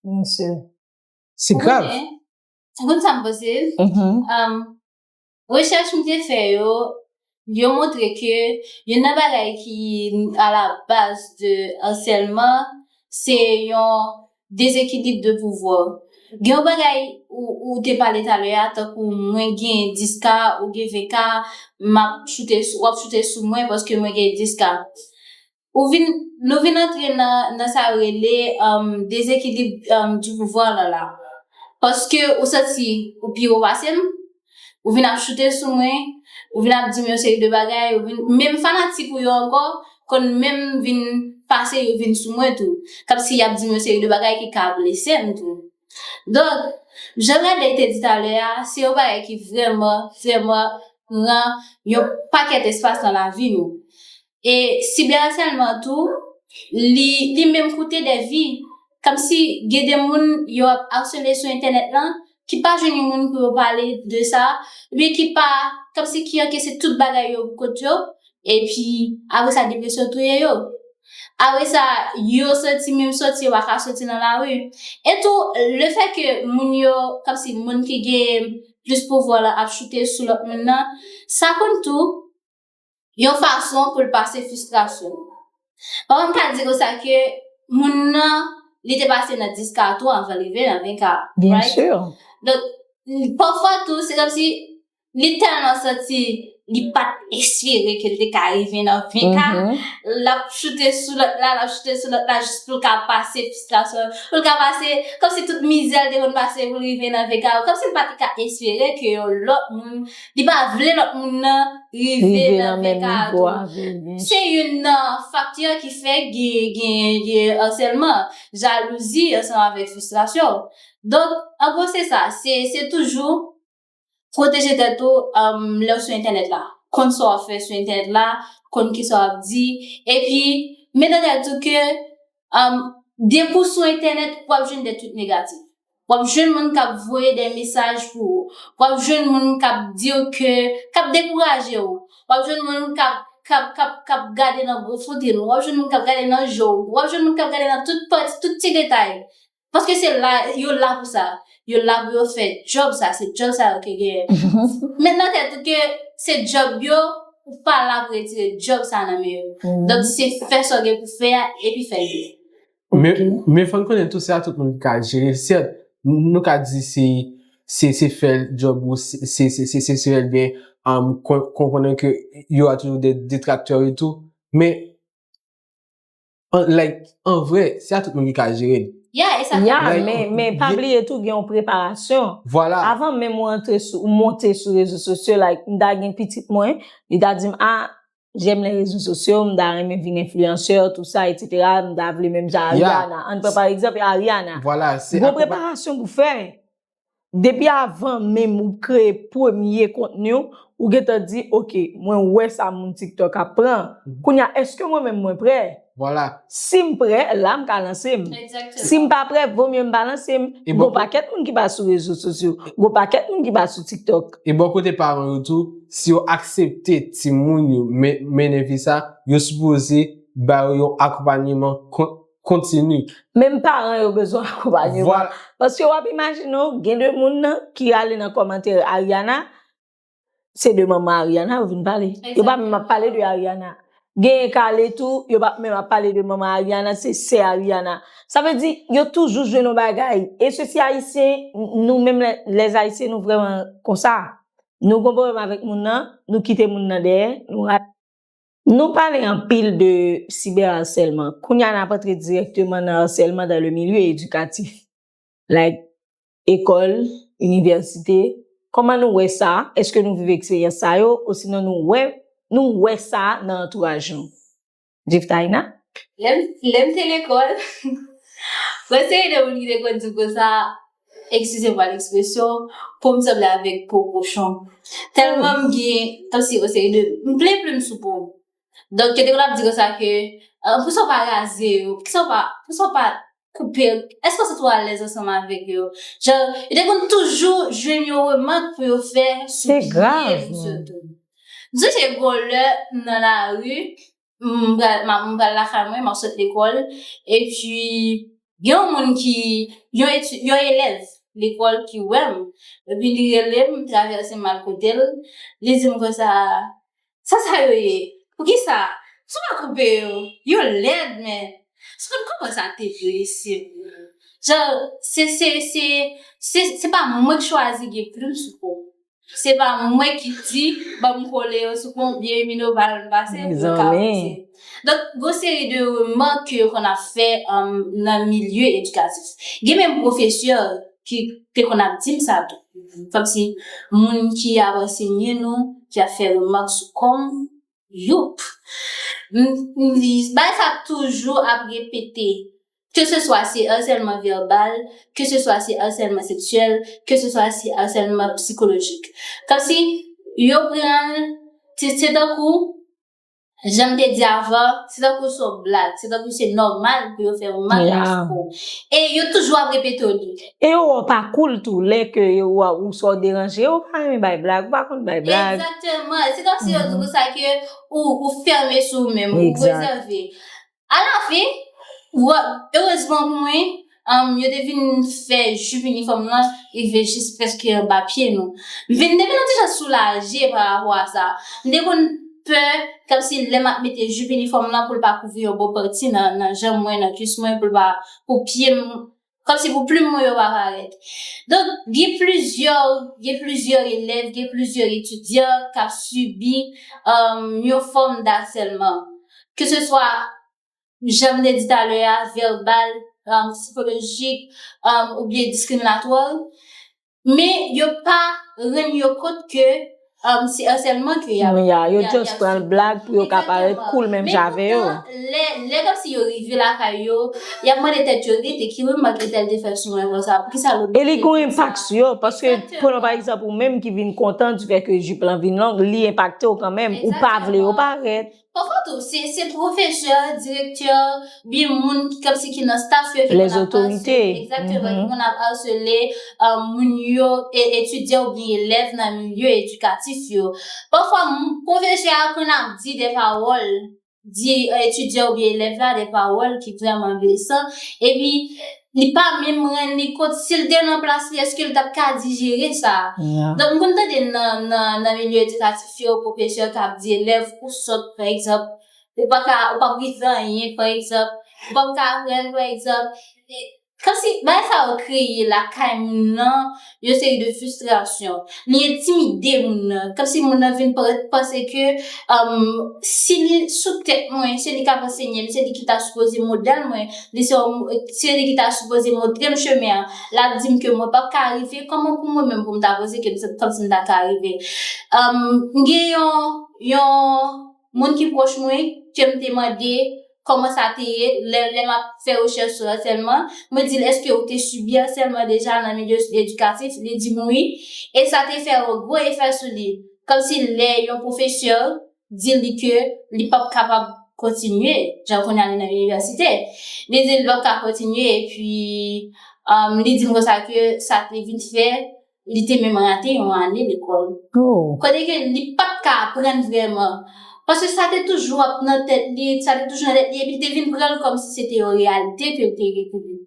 Byensi. Se grav. Ou konnen, ou konn sa m panse? Rechèch m te fè yo, yo montre ke youn nan bagay ki a la baz de arsèlman se yon dezekilib de pouvwa. Gen yon bagay ou te pale talè a tankou mwen gen 10 ka ou gen 20 ka, m ap choute, w ap choute sou mwen paske mwen gen 10 ka. Ou vin, nou vin antre nan, nan sa yo rele, um, dezekilib, um, du pouvoir lan la. Paske ou santi ou pi wo pase m, ou vin ap choute sou mwen, ou vin ap di m yon seri de bagay, ou vin, menm fanatik ou yo ankò konn menm vin pase yo vin sou mwen tou. Kòmsi y ap di m yon seri de bagay ki ka blese m tou. Donk, jan Nadège te di talè a, se yon bagay ki vrèman, vrèman pran yon pakèt espas nan lavi nou. E sibèasèlman tou, li li menm koute dè vi. Kòmsi gen de moun yo ap asele sou entènèt lan, ki pa jwenn yon moun pou yo pale de sa, oubyen ki pa, kòmsi ki ankese tout bagay yo pou kont yo, epi apre sa depresyon touye yo. Apre sa, yo soti, menm soti yo pa ka soti nan lari. E tou, lefè ke moun yo, kòmsi moun ki gen plis pouvwa la ap choute sou lòt moun nan, sa konn tou yon fason pou l pase fistrasyon l. Papa m ka di konsa ke moun nan, li te pase nan 10 ka tou anvan l rive nan 20 ka, right? Donk, pafwa tou, se kòmsi li tèlman santi li pat espere ke l te ka rive nan 20 ka, l ap choute sou lòt la, l ap choute sou lòt la jis pou l ka pase fristrasyon l, pou l ka pase, kòmsi tout mizè l te konn pase pou l rive nan 20 ka yo, kòmsi l pa te ka espere ke yon lòt moun, li pa vle lòt moun nan rive nan 20 ka a tou. Se youn nan faktè ki fè gen asèlman, jalouzi ansanm avèk fristrasyon. Donk, an gwo se sa, se toujou. Pwoteje tèt ou lè w sou entènèt la. Konn sa w ap fè sou entènèt la, konn kisa w ap di. Epi, met nan tèt ou ke depi w sou entènèt, w ap jwenn de twit negatif. W ap jwenn moun k ap voye de mesaj pou ou. W ap jwenn moun k ap di w ke, k ap dekouraje w. W ap jwenn moun k ap gade nan gwo fote l ou. W ap jwenn moun k ap gade nan je w. W ap jwenn moun k ap gade nan tout pati, tout ti detay. Paske se la, yo la pou sa. Yo la pou yo fè djòb sa, se djòb sa yo ke genyen. Met nan tèt ou ke se djòb yo, ou pa la pou retire djòb sa nan men yo. Donk se fè sa w gen pou fè a, epi fè l byen. Men fò n konnen tou, se pa tout moun ki ka jere l. Sèt, nou ka di se se fè djòb ou, se se fè l byen, konprennen ke yo a toujou de detraktè yo tou. Men, An like an vre se a tout moun ki ka jerel. Ya e sa ki Ya Like men an men pa byen. bliye tou gen yon preparasyon. Vwala. Avan menm ou antre sou ou monte sou rezo sosyo like m ta gen pitit mwen li ta di m a jèm lè rezo sosyo m ta renmen vin influenceur tout sa etc m ta vle menm jan Ya. Ariana ann pran pa egzanp Ariana Vwala se gwo akonpa preparasyon pou fè. Depi avan menm ou kreye premye kontni w, ou gentan di ok mwen wè sa moun tiktok ap pran, kounye a eske mwen menm mwen prè? Vwala. Si m prè, la m ka lanse m. Egzakteman. Si m pa prè, vo mye m pa lanse m. E bò. Gon pakèt moun ki pa sou rezo sosyo. Gon pakèt moun ki pa sou tiktok. E bò kote paran yo tou, si yo aksepte timoun yo men, mennen vi sa, yo sipoze ba yo yon akonpanyeman kon, kontini. Menm paran yo bezwen akonpagneman. Paske wap imajine w gen de moun nan ki ale nan komante Ariana, se de manman Ariana yo vin pale. Yo pa menm ap pale de Ariana. Genyen ka ale tou, yo pa menm ap pale de manman Ariana, se sè Ariana. Sa vle di, yo toujou jwenn yon bagay. E se si ayisyen, nou menm les ayisyen nou vreman konsa. Nou gen yon pwoblèm avèk moun nan, nou kite moun nan dèyè, nou rale. Nou pale anpil de cyberharcèlement, kounye a n ap antre dirèkteman nan harcèlement dans le milieu éducatif, like ekòl, inivèsite, kòman nou wè sa, èske nou viv eksperyans sa yo osinon nou wè nou wè sa nan antouraj nou? Jeftaïna. Lè m te lekòl, mwen se youn nan moun ki te konn di konsa, Eskize mwa lekspresyon, po m sanble avèk po kochon. Tèlman m gen, kòmsi yon seri de, m plen plim sou po. Donk yo te konn ap di konsa ke, pou sa w pa raze yo, pou sa w pa, pou sa w pa koupe, èske w santi w alèz ansanm avèk yo? Jan, yo te konn toujou jwenn yon remak pou yo fè sou pye m sitou. M sonje gon lè nan lari, m pral m pral lakay mwen, m ap sot lekòl epi gen yon moun ki, yon eti, yon elèv lekòl ki wè m epi li rele m, travèse m al kote l, li di m konsa, Sa sa yo ye? Poukisa sou pa koupe yo? Yo lèd men! S konn kouman sa te vle se vre. Jan se, se, se, se pa mwen k chwazi gen plim sou po m. Se pa mwen ki di banm kole yo sou pon byen Minova lèm pase pou yo ka avanse. Donk gon seri de remak ke yo konn ap fè nan milye edikatif. Gen menm pwofesè ki te konn ap dim sa tou. Kòmsi moun ki ap ansenye nou ki ap fè remak sou kòm yo. Bagay sa toujou ap repete. Ke se swa se arsèlman vèbal, ke se swa se arsèlman seksyèl, ke se swa se arsèlman psikolojik. Kòmsi yo pran l, se tankou, jan m te di avan, se tankou se yon blag, se tankou se nòmal pou yo fè remak la sou ou. E yo toujou ap repete li. E yo wè w pa cool tou, lè ke yo wè ou swa ou deranje, e ou pa renmen bay blag, ou pa konn bay blag. Egzakteman. Se kòmsi yo di pou sa ke ou fèmen sou ou menm, ou rezève. A la fin, erezman pou mwen, yo te vin fè jup inifòm lan rive jis prèske anba pye nou. M vin, depi lè m te janm soulaje pa rapò a sa. M te konn pè kòmsi lè m ap mete jup inifòm lan pou l pa kouvri yon bon pati nan janm mwen, nan kuis mwen, pou l pa, pou pye m Kòm si pou plim mwen yo pa parèt. Donk, gen plizyè, gen plizyè elèv, gen plizyè etidyan k ap sibi yon fòm dasèlman. Ke se swa, jan m te di talè a, vèbal, sikolojik, oubyen diskriminatwa. Men yo pa rann yo kont ke se asèlman ke y ap sibi. Ya, yo just pran l blag pou yo ka parèt cool menm jan avè yo. Men poutan, lè kòmsi yo rive lakay yo, y ap mande tèt yo, rete, ki remak entèl te fè sou mwen konsa? Poukisa lòt moun te di sa? E li gon enpak sou yo, paske pran pa egzanp ou menm ki vin kontan difè ke jupe lan vin long, li enpakte w kanmenm, ou pa vle yo parèt. Pafwa tou, se pwofesè, direktè, oubyen moun ki kòmsi ki nan staf yo ki konn ap arsele, exactement, ki konn ap arsele moun yo, etidyan oubyen elèv nan milye edikatif yo. Pafwa, pwofesè a konn ap di de pawòl, di etidyan oubyen elèv la de pawòl ki vrèman blesan, epi, Li pa menm ren li kot si l te nan plas li eske l tap ka dijere sa. Donk m konn tande nan milye edikatif yo pwofesè kap di elèv ou sòt pa egzanp ou pa ka ou pap rive anyen pa egzanp ou pap ka aprann pa egzanp kòmsi bagay sa yo kreye lakay moun nan yon seri de fistrasyon, li entimide moun nan, kòmsi moun nan vin panse ke si li sou tèt mwen, se li k ap ansenye m, se li ki ta sipoze modèl mwen, se li ki ta sipoze montre m chemen an, l ap di m ke mwen p ap ka rive, kòman pou mwen menm pou m ta panse ke m se kòmsi m ta ka rive. M gen yon, yon. moun ki pwòch mwen ke m te mande kòman sa te ye lè lè m ap fè rechèch sou asèlman. Mwen di l, èske ou te sibi asèlman deja nan milye edikatif? Li di m wi. E sa te fè yon gwo efè sou li. Kòmsi lè yon pwofesè di li ke li p ap kapab kontinye, jan kounye a li nan inivèsite, li di li p ap ka kontinye epi li di m konsa ke sa te vin fè. Li te menm rate yon ane lekòl. Kote ke li pa t ka aprann vrèman. Paske sa te toujou ap nan tèt li, sa te toujou nan tèt li, epi li te vin pran l kòmsi se te yon reyalite ke l te rete li.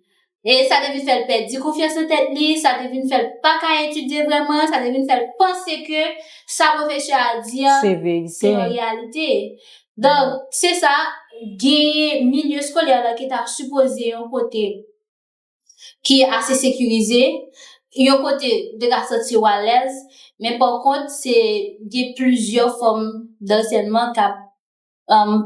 E sa te vin fè l pèdi konfyans nan tèt li, sa te vin fè l pa ka etidye vrèman, sa te vin fè l panse ke sa pwofesè a di an se yon reyalite. Donk, se sa, genyen milye eskolè la ki ta sipoze yon kote. ki ase sekirize, yon kote ou te ka santi ou alèz, men pa kont se gen plizyè fòm dansènman k ap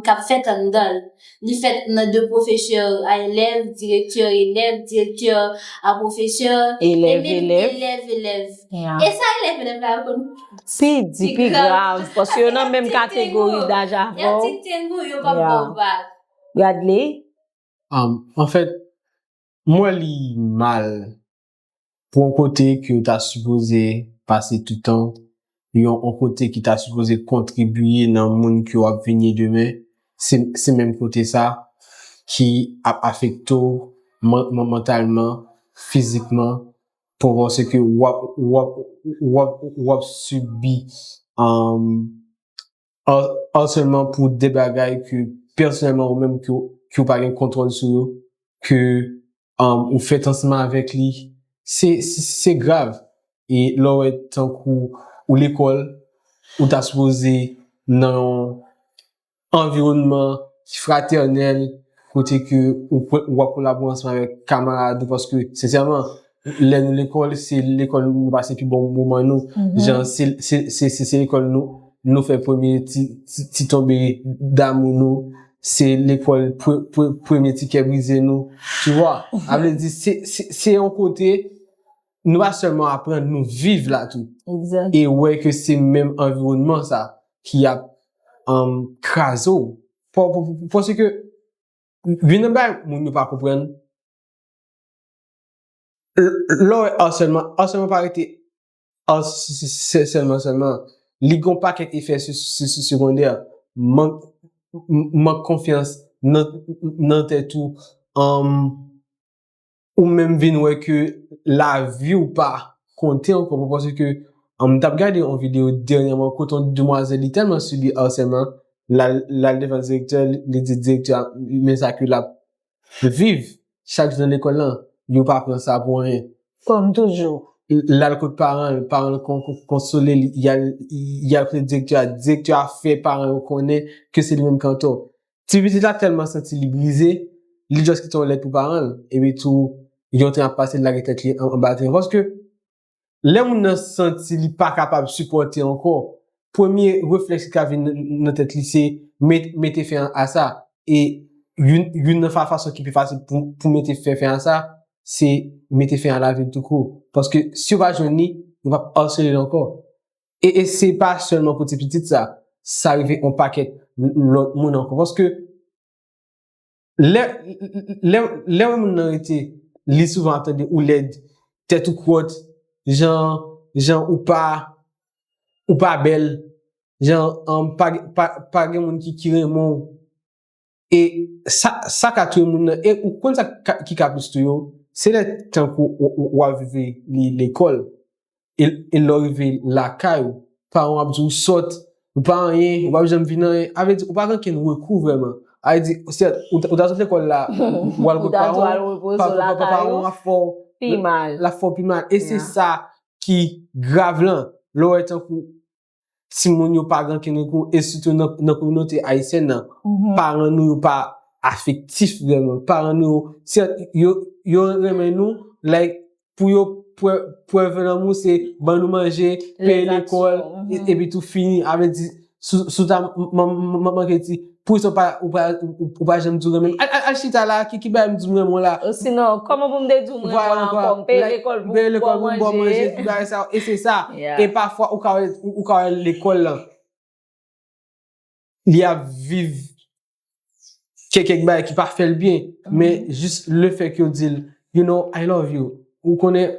k ap fèt anndan l. Li fèt nan de pwofesè a elèv, direktè elèv, direktè a pwofesè, e menm elèv elèv. E sa elèv elèv la yo konn pi di pi grav paske yo nan menm kategori daj avè w. Yo ti tengo, yo pa ba w vag. Bradley, An fèt, m wè li mal pou yon kote ke yo ta sipoze pase tout tan, yon kote ki ta sipoze kontribiye nan moun ke w ap vin ye demen, se menm kote sa ki ap afekte w mantalman, fizikman, pou w panse ke w ap sibi Harcèlement pou de bagay ke pèsonèlman ou menm ke ou pa gen kontwòl sou yo, ke ou fèt ansanm avèk li, se grav. E lè ou wè tankou ou lekòl, ou ta sipoze nan yon anviwònman fratènèl, kote ke ou ap kolabore ansanm avèk kamarad ou, paske sensèman, Lè nou lekòl, se lekòl nou pase pi bon moman nou. Jan se lekòl nou fè premye ti tonbe damou nou. Se lekòl premye ti kè brize nou. Tu wè? A vle di, se yon kote nou pa sèlman aprann, nou viv la tou. E wè ke se menm anviwònman sa ki ap kraze ou. Pòske, youn nan bagay moun yo pa konprann. Lè w wè arsèlman, arsèlman pa rete arsèlman sèlman. Li gen yon pakèt efè segondè. Mank konfyans nan tèt ou. Ou menm vin wè ke lavi ou pa konte ankò. Mwen panse ke, m t ap gade yon videyo dènyèman kote yon demwazèl li tèlman sibi arsèlman, l al devan direktè, li di direktè a men sa ke l ap Viv chak jou nan lekòl lan, yo pa pran sa pou anyen. Kòm toujou. L al kot paran l, paran l konsole l, y al kote direktè a, direktè a fè paran yo konnen ke se li menm ki antò. Ti pitit la tèlman santi li brize, li just kite yon lèt pou paran l, epi tou, gen yon tren ap pase, l lage tèt li anba tren, paske. Lè moun nan santi li pa kapab sipòte ankò, premye reflèks ki ka vin nan tèt li se mete fen a sa. E youn nan fason ki pi fasil pou mete fen fen a sa, se mete fen a lavi l tou kou. Paske si yo pa jwenn li, yo p ap asele l ankò. E se pa sèlman pou ti pitit sa, sa rive yon pakèt lòt moun ankò. Paske Lè, lè, lè wè moun nan rete, li souvan ap tande ou lèd, tèt ou kwòt, jan, jan ou pa, ou pa bèl, jan an pa gen, pa, pa gen moun ki, ki renmen w. E sa, sa ka touye moun nan. E ou konn sa ki ka plis touye w? Se lè tankou ou, ou al rive li lekòl, e lè w rive lakay ou, paran w ap di w sòt, ou pa anyen, ou pap janm vin anyen, sa vle di ou pa gen okenn rekou vrèman. Sa vle di, sèt, ou ta sot lekòl la, ou al kot paran w, paran paran w ap fè w pi mal, l ap fè w pi mal, e se sa ki grav lan, lè w wè tankou. timoun yo pa gen ankenn rekou, e sitou nan kominote ayisyèn nan, paran nou yo pa afektif vreman. Paran nou yo, sèt, yo renmen nou, like, pou yo prève lanmou se ban nou manje, peye lekòl, epitou fini. Avè di, sou ta manman ke di. Pou sa ou pa janm di w renmen m. Al chita la, ki bagay m di m renmen w la? Osinon, kòman pou m te di w m renmen w ankò? M peye lekòl pou m ba w manje. E se sa. E pafwa ou ka wè lekòl lan, li ap viv kèk bagay ki pa fè l byen. Men jis lefèk yo di l, you know, I love you. Ou konnen.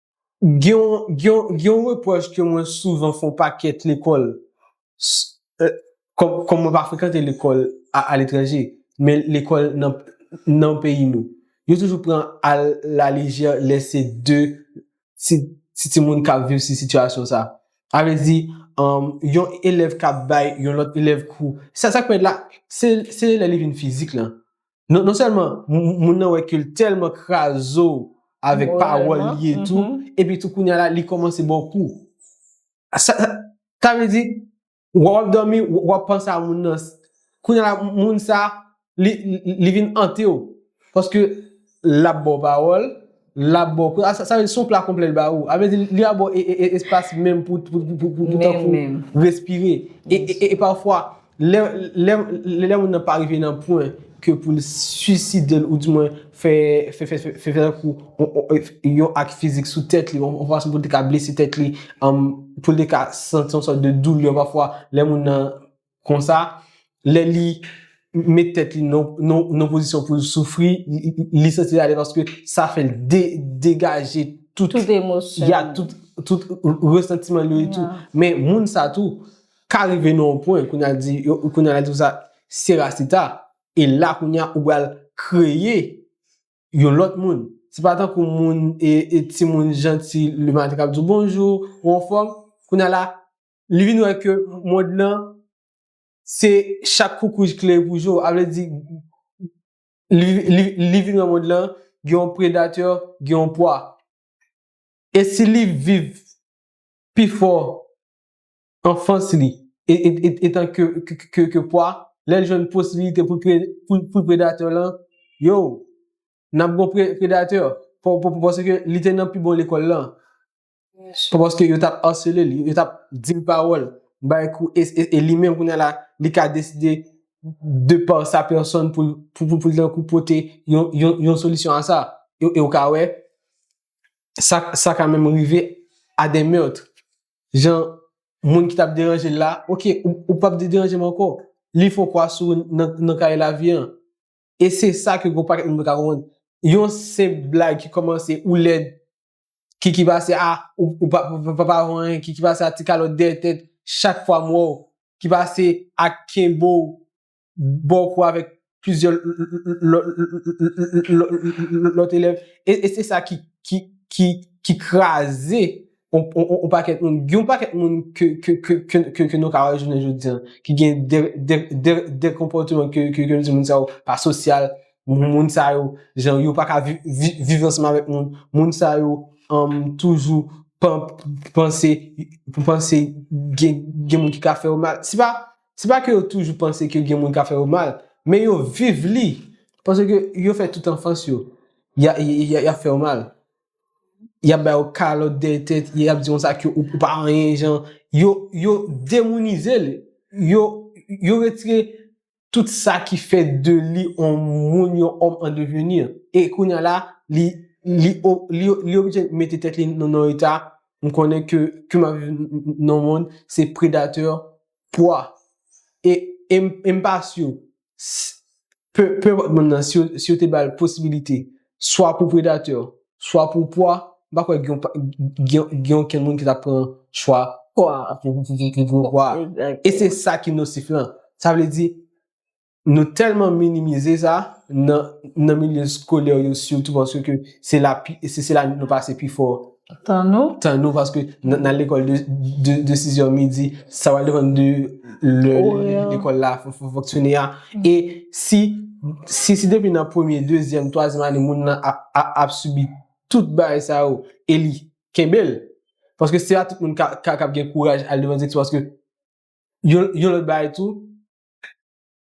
Gen yon repwòch ke mwen souvan fè yon pakèt lekòl, kòm mwen pa frekante lekòl a letranje, men lekòl nan peyi nou. Yo toujou pran a la lejè lè se de ti timoun k ap viv si sitiyasyon sa. A vle di, yon elèv k ap bay yon lòt elèv kou. Sa k fè la, se lè li vin fizik lan. Non, non sèlman, moun nan wè ke l tèlman kraze w avèk pawòl li etou, epi tou kounye a la, li kòmanse ba w kou. Sa, sa vle di, w ap dòmi, w ap panse a moun nan. Kounye a la, moun sa, li, li vin ante w. Paske, l ap ba w pawòl. Lap baw pran, sa vle di son pla konplè li ba ou. A vle di li ap baw espas menm pou tankou respire. E pafwa, lè moun nan pa rive nan pwen ke pou l suicide l ou di mwen fè tankou yon ak fizik sou tèt li, yon fason pou l te ka blese tèt li, pou l te ka santi yon sòt de doulè pafwa lè moun nan. Konsa, lè li met tèt li nan pozisyon pou l soufri, li santi l ale paske sa fè l degaje tout resantiman li yo etou. Men moun sa tou, ka rive nan yon pwen, kounye a l di, kounye a l a di konsa, se Rastita, e la kounye a ou pral kreye yon lòt moun. Se pa tankou moun, e ti moun janti, le maten k ap di w bonjou, ou anfòm, kounye a la, li vin wè ke mond lan se chak koukouy klere pou jo, a vle di li vin wè mond lan gen yon predatè, gen yon pwa. E si li viv pi fò anfans li etan ke pwa, lè l jwenn posibilite pou l predatè lan, yo, n ap gen yon predatè paske li te nan pi bon lekòl lan. Pou paske yo tap asele li, yo tap di l pawòl, bay kou, e li menm kounye a la, li ka deside de pa sa pèsòn pou l dan kou pote yon solisyon a sa. E ou ka wè, sa ka menm rive a de meurtre. Jan moun ki tap deranje l la, ok, ou pap de deranje m ankò. Li fon kwa sou nan kaye lavi an. E se sa ke gwo paket moun pa ka konprann. Yon senp blag ki kòmanse ou lèd, Kiki pase a ou pa pa wè anyen kiki pase a ti kalòt dèyè tèt chak fwa m wè w ki pase a kenbe w ba w kou avèk plizyè lòt elèv e se sa ki ki ki kraze yon pakèt moun gen yon pakèt moun ke nou ka wè jounen jodi an ki gen de konpòteman ke nou di moun sa yo pa sosyal Moun sa yo, jan yo pa ka viv ansanm avèk moun. Moun sa yo toujou panse gen moun ki ka fè yo mal. Se pa ke yo toujou panse ke gen moun ka fè yo mal, men yo viv li. Panse ke yo fè tout anfans yo, y ap fè yo mal. Y ap ba yo kalòt dèyè tèt, y ap di yo sa ke ou pa anyen jan. Yo demounize li. Yo retire Tout sa ki fè de li on moun, yon homme en devenir. E kounya la, li, li, li, li oblije mete tèt li nan yon eta, m konnen ke, ke map viv nan yon mond, se predateur, pwa. E, e m pa sur, s, pe, pe enpòt moun nan, si yo, si yo te bal posibilite swa pou predatè, swa pou pwa, m pa kwè gen okenn moun ki ta pran chwa pwa a pi piti ke gwo pwa a. E se sa ki nosif lan. Sa vle di, nou tèlman minimize sa, nan milye skolè yo sitou paske se la nou pase pifò Tanou. Tanou paske nan lekòl de 6 zè midi, sa wale depan de lè lekòl la fonksyone a. E si, si si depi nan premye, dezyèm, twazyèm ane moun nan ap sibi tout bagay sa yo, e li kenbe l, paske se pa tout moun kap gen kouraj al devan direksyon paske yon lòt bagay tou.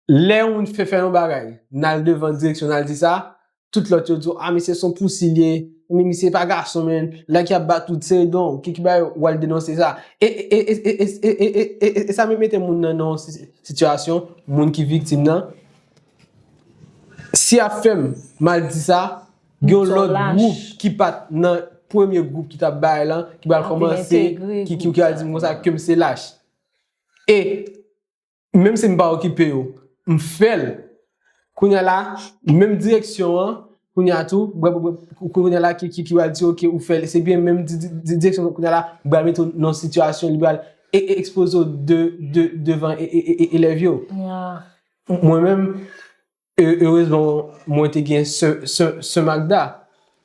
Lè yon moun fè fè yon bagay, nal devan direksyon nal di sa, tout lòt yo di w a misye son pousi l ye, men misye pa gason menn, lè ki ap bat ou t se edon w ki ki bay ou al denonse sa. E e e e sa menm mete moun nan nan yon sitiyasyon, moun ki viktim nan, si yap fèm mal di sa, gen yon lòt gwoup ki pat nan premye gwoup ki tap bay lan, ki pral kòmanse, ki al di m konsa kem se lach. E. Menm si m pa okipe yo, m fè l. Kounye a la, menm direksyon an, kounye a tou, kounye a la ki pral di ok ou fè l, se byen menm direksyon an kounye a la pral mete w nan yon sitiyasyon li pral ekspoze w devan elèv yo. Mwen menm, Erezman mwen te gen sè Magda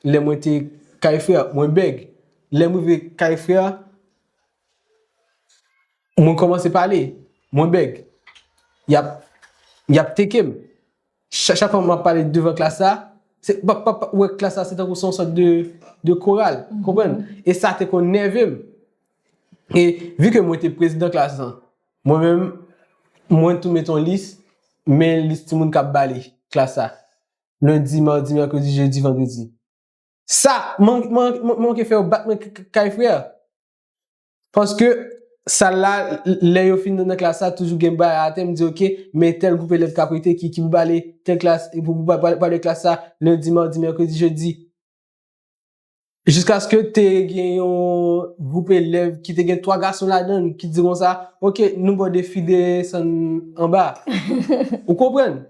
lè mwen te kay frè a. Mwen bèg. Lè m rive kay frè a, mwen kòmanse pale. Mwen bèg. Y ap teke m. Chak fwa m ap pale devan klas la, klas la se tankou se yon sòt de koral. Konprann? E sa te konn nève m. E vi ke mwen te prezidan klas lan, Mwen menm, mwen tou met yon lis, men lis timoun k ap bale klas la, lendi, madi, mèkredi, jedi, vandredi. Sa, mwen manke fè yo bat mwen kay frè. Paske, sal la, lè yo fin nan klas la, toujou gen bagay atè, m di ok, men tèl gwoup elèv k ap rete ki pou bale tèl klas, pou bale klas sa, lendi, madi, mèkredi, jedi. Jiskaske te gen yon gwoup elèv ki te gen 3 gason ladan l ki di konsa, ok, nou ba w defile san anba. Ou konprann?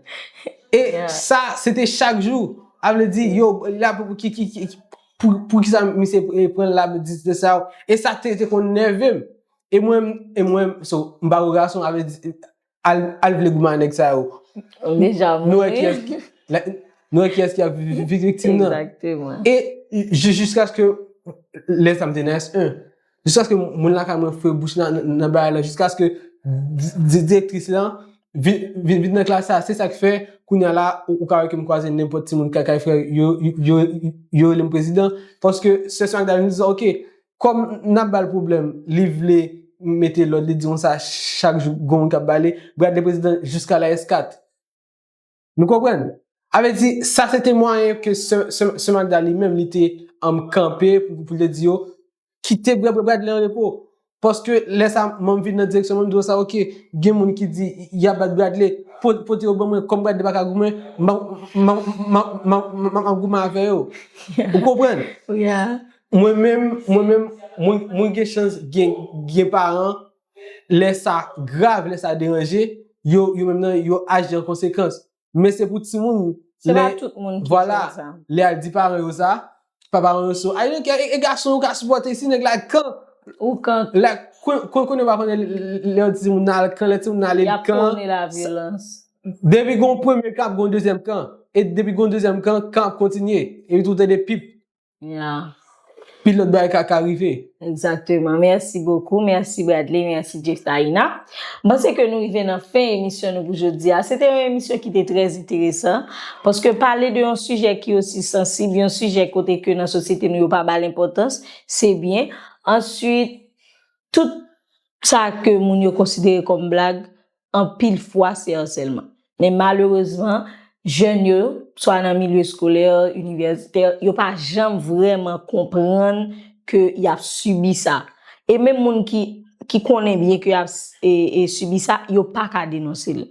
E sa, se te chak jou. A vle di, yo, la pou ki, ki, ki, pou ki sa misye pran la pou di sa yo. E sa te konn nève m. E mwen, e mwen, so, m pa gwo gason, a vle di, Al vle goumen ak nèg sa yo. Ou deja mouri. Nou wè kiyès ki ap viktim nan. Exactement. E jiskaske lè sa m te nan S1, jiskaske moun lakay mwen fwe bouch nan bagay la, jiskaske direktris lan vin nan klas la, se sa k fè kounya la ou ka wè ke m kwaze nenpòt timoun kay frè yo, yo rele m prezidan. Paske sè Magda vin di sa, ok, Kòm nap bal pwoblèm li vle mete lòd li di nou sa chak jou gon moun kap bale brad le president jusqu'à la eskat nou konprann a vle di sa se te mwayen ke sè Magda li menm li te kanpe pou l te di yo kite brad le an repo paske lè sa mwen vin nan direksyon mwen di yo sa ok gen moun ki di yap bat brad le pote yo ban mwen kòm brad le paka goumen map goumen avè yo ou konprann. Mwen menm, mwen menm, mwen, mwen gen chans gen, gen paran, lè sa grav, lè sa deranje, yo, yo menm nan, yo aji an konsekans. Men se pou timoun, Se pa tout moun ki konn sa. Vwala, lè al di paran yo sa, pa paran yo sou, ay donk e gason yo ka sipòte si nèg la kan. Ou kan. La, kon, kon konnen ou pa konnen lè yon timoun nan al kan, lè timoun nan ale kan. Yap pwone lavyolans. Depi gon premye kan ap gon dezyèm kan. E depi gon dezyèm kan, kan ap kontinye. Epi tou tande pip. Yeah. Pil lòt bagay ka ka rive. Exactement. Merci beaucoup. Merci Bradley. Merci Jeftaïna. M'panse ke nou rive nan fen emisyon nou pou jodi a. Se te yon emisyon ki te trè enteresan. Paske pale de yon sijè ki osi sansib, yon sijè kote ke nan sosyete nou yo pa ba'l enpòtans, se byen. Answit, tout sa ke moun yo konsidere kòm blag, anpil fwa se asèlman. Men malerezman, jèn yo, swa nan milye eskolè, inivèsitè, yo pa janm vrèman konprann ke y ap sibi sa. E menm moun ki konnen byen ke y ap sibi sa, yo pa ka denonse l.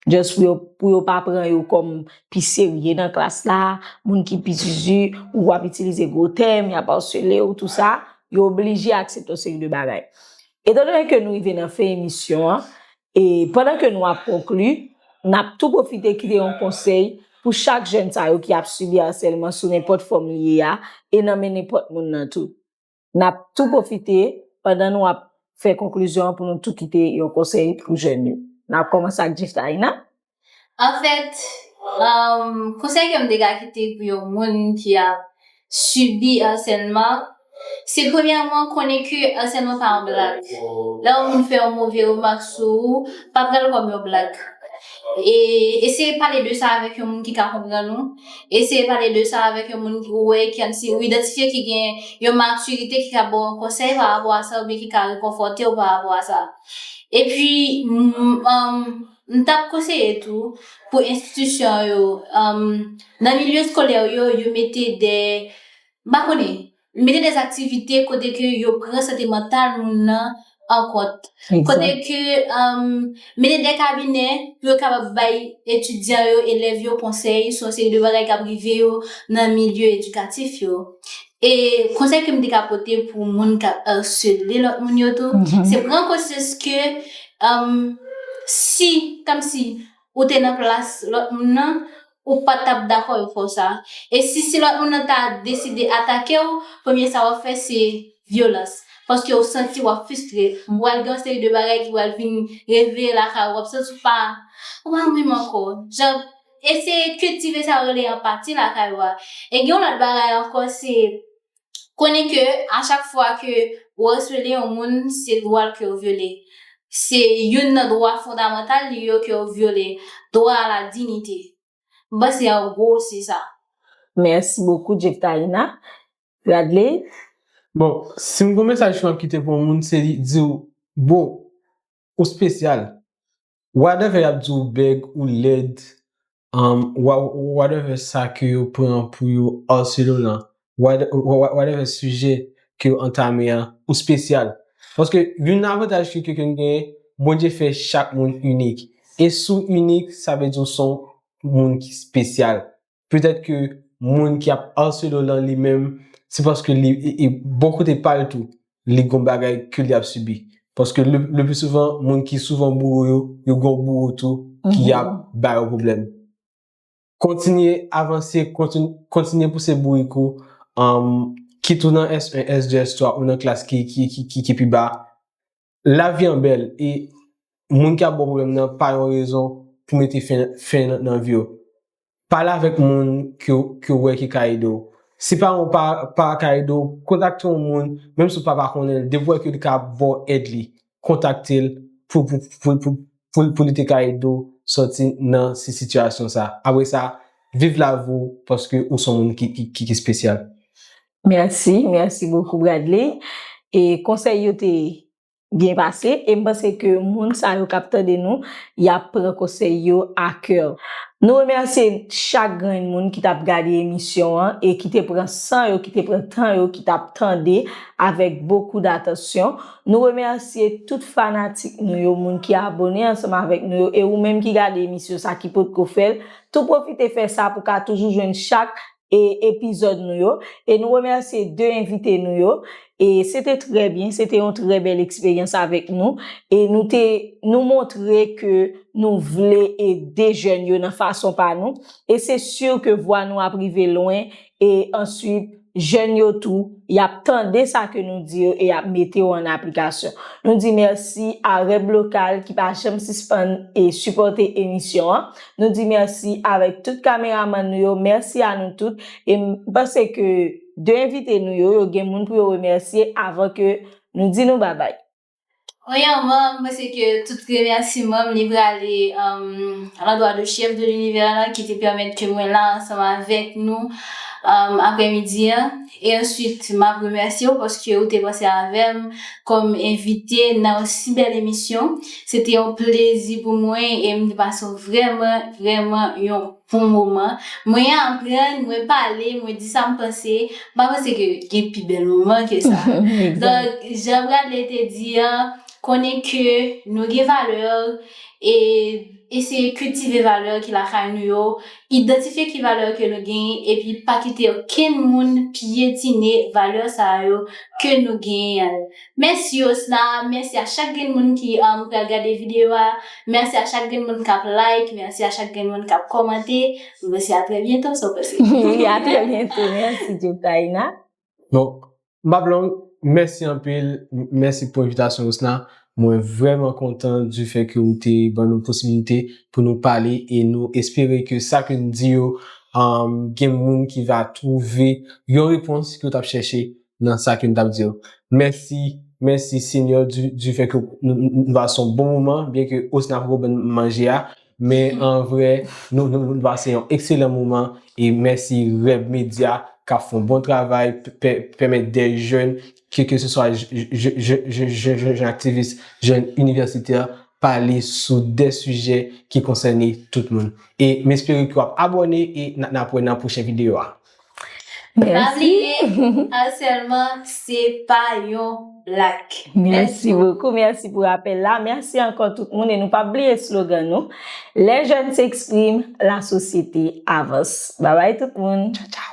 Just pou yo pa pran yo kòm pi serye nan klas la, moun ki pi zuzu, ou ap itilize gwo tèm, y ap asele w, tou sa, yo oblije aksepte yon seri de bagay. Etan done ke nou rive nan fen emisyon an, e pandan ke nou ap konkli, n ap tou pwofite kite yon konsèy pou chak jèn sa yo ki ap sibi asèlman sou nenpòt fòm li ye a, e nan men nenpòt moun nan tou. N ap tou pwofite pandan nou ap fè konklizyon an pou nou tou kite yon konsèy pou jèn yo. N ap kòmanse ak Jiftaïna. An fèt, konsèy ke m te ka kite pou yon moun ki ap sibi asèlman, se premyèman konnen ke asèlman pa yon blag. Lè yon moun fè yon move remak sou ou, pa pran l kòm yon blag. E eseye pale de sa avèk yon moun ki ka konprann ou, eseye pale de sa avèk yon moun ou wè ki an ti ou idantifye ki gen yon matirite ki ka ba w yon konsèy parapò a sa oubyen ki ka rekonfòte w parapò a sa. Epi. M t ap konseye tou pou enstitisyon yo, nan milye eskolè yo, yo mete de, m pa konnen, mete de aktivite kote ke yo pran sante mantal moun nan an kont. Kote ke, mete de kabinè pou yo kapab bay etidyan yo, elèv yo konsèy sou yon seri de bagay k ap rive yo nan milye edikatif yo. E konsèy ke m te ka pote pou moun k ap arsele lòt moun yo tou, se pran konsyans ke si, kòm si ou te nan plas lòt moun nan, ou pa t ap dakò yo fè w sa. E si si lòt moun nan ta deside atake w, premye sa w ap fè se vyolans. Paske ou santi w ap fistre. Ou pral gen yon seri de bagay ki pral vin reveye lakay ou. W ap santi w pa menm ankò. Eseye kiltive sa yo rele anpati lakay ou a. E gen yon lòt bagay ankò se konnen ke a chak fwa ke ou asele yon moun se dwa l ke ou vyole. Se youn nan dwa fondamantal li yo ke ou vyole, dwa a la dinite. M panse an gwo se sa. Mèsi bokou Jektaïna. Radley? Bon, si m gon mesaj ke m ap kite pou yon moun se li di w, Bro, Ou spesyal. Whatever yap di ou bèg, ou lèd, um, whatever sa ke yo pran pou yo harcele w lan, whatever sijè ke yo antame an, ou spesyal. Paske youn nan avantaj ke ke nou genyen, Bondye fè chak moun inik. E si w inik, sa vle di w son moun ki spesyal. Petèt ke moun ki ap arsele w lan li menm, se paske li, e bò kote pa l tou, li gon bagay ke li ap sibi. Paske lepli souvan, moun ki souvan boure yo, yo gon boure tou ki ap ba yo pwoblèm. Kontinye avanse, kontinye pouse bourik ou, kit ou nan S1, S2, S3, ou nan klas ki pi ba, Lavi an bèl e moun ki ap ba w pwoblèm nan pa yon rezon pou mete fen nan vi w. Pale avèk moun ke w wè ki ka ede w. Si paran w pa ka ede w, kontakte yon moun, menm si w pa pa konnen l, depi w wè ke li ka ba w èd li, kontakte l pou li te ka ede w sòti nan sitiyasyon sa. Apre sa, viv lavi w paske ou se yon moun ki espesyal. Merci, merci beaucoup Bradley. E konsèy yo te byen pase e m panse ke moun sa yo k ap tande nou y ap pran konsèy yo a kè. Nou remèsye chak grenn moun ki t ap gade emisyon an e ki te pran san yo, ki te pran tan yo, ki t ap tande avèk bokou datansyon. Nou remèsye tout fanatik nou yo, moun ki abone ansanm avèk nou yo e ou menm ki gade emisyon sa ki potko fè l, tou pwofite fè sa pou w ka toujou jwenn chak e epizòd nou yo e nou remèsye 2 envite nou yo e se te trè byen se te yon trè bèl eksperyans avèk nou e nou te nou montre ke nou vle ede jèn yo nan fason pa nou e se sur ke vwa nou ap rive lwen e answit jèn yo tou yap tande sa ke nou di yo e yap mete yo an aplikasyon nou di mèsi a Rèblokal ki pa janm sispann e sipòte emisyon an. Nou di merci avèk tout kameramann nou yo, merci a nou tout e m panse ke 2 envite nou yo, yo gen moun pou yo remèsye avan ke nou di nou babay. Premyèman, m panse ke tout remèsiman m li prale alandwa de Chef de l'Univers la ki te pèmèt ke mwen la ansanm avèk nou aprèmidi an. E answit map remèsye w paske ou te panse avè m kòm envite nan yon si bèl emisyon. Se te yon plezi pou mwen e m te pase w vrèman, vrèman yon bon moman. Mwen aprann, mwen pale, mwen di sa m panse. M pa panse ke gen pi bèl moman ke sa. Donk, jan Bradley te di an, konnen ke nou gen valè e. Eseye kiltive valè ki lakay nou yo, idantifye ki valè ke nou genyen epi pa kite okenn moun pyetine valè sa a yo ke nou genyen an. Mèsi Yosna, mèsi a chak grenn moun ki pral gade videyo a, mèsi a chak grenn moun kap like, mèsi a chak grenn moun kap kòmante, mwen se a trè byento, sa w panse? Wi, a trè byento, mèsi Djoutaïna. Bon, m pap long, mèsi anpil, mèsi pou envitasyon Osna, mwen vrèman kontan di fè ke ou te ban nou posibilite pou nou pale e nou espere ke sa ke n di yo gen moun ki va twouve yon repons ke yo t ap chèche nan sa ke n t ap di yo. Mèsi, mèsi Senyè di fè ke nou pase yon bon moman byen ke Osna poko ban n manje a. Men an vre nou nou pase yon ekselan moman e mèsi Reb Media kap fon bon travay pèmèt de jèn ke ke se swa jèn aktivis, jèn inivèsitè pale sou de sijè ki konsène tout moun. E m espere ke w ap abòne e n ap wè nan pwochen videyo a. Merci. Pa bliye, harcèlement se pa yon blag. Mèsi bokou, mèsi pou rapèl la. Mèsi ankò tout moun e nou pap bliye slogan nou, Les jeunes s'expriment, la société avance. Babay tout moun. Tchaw tchaw.